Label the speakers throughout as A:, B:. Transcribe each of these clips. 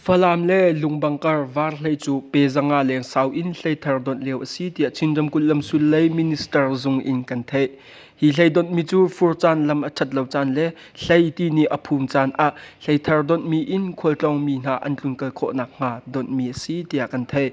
A: Falam le Lungbangkar var hlei cu pezanga leng sau in hleithar donh lio a si tiah Chin ramkulh lamsul lei minister zung in kan theih. Hi hlei donhmi cu fur caan lam a ṭhat lo caan le hlei ti nih a phum caan ah hleithar donhmi in khualtlawngmi hna an tlun kal khawh nakhnga donhmi a si tiah kan theih.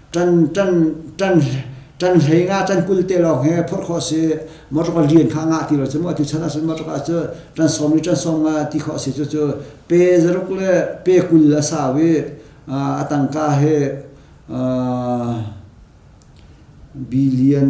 B: tan hlei nga tan kul te lawng hi phurh khawh si motor ka lian kha nga ti lo cu mu atu chan ah cun motor ka cu tan som ni tan som nga ti khawh si cu cu pe zaruk le pe kul a sau i a tangka he billion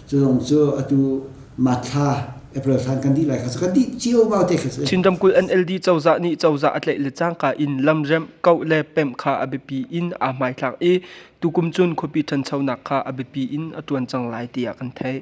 B: Culong cu atu mathla April thlan kan di lai kha kan di cio ba te kha Cindam kul NLD
A: cozah nih cozah a tlaih le cangka in lamrem kau le pem kha a biapi in a hmai thlak i tukum cun khuapi ṭhanchonak kha a biapi in a ṭuan cang lai tiah kan theih.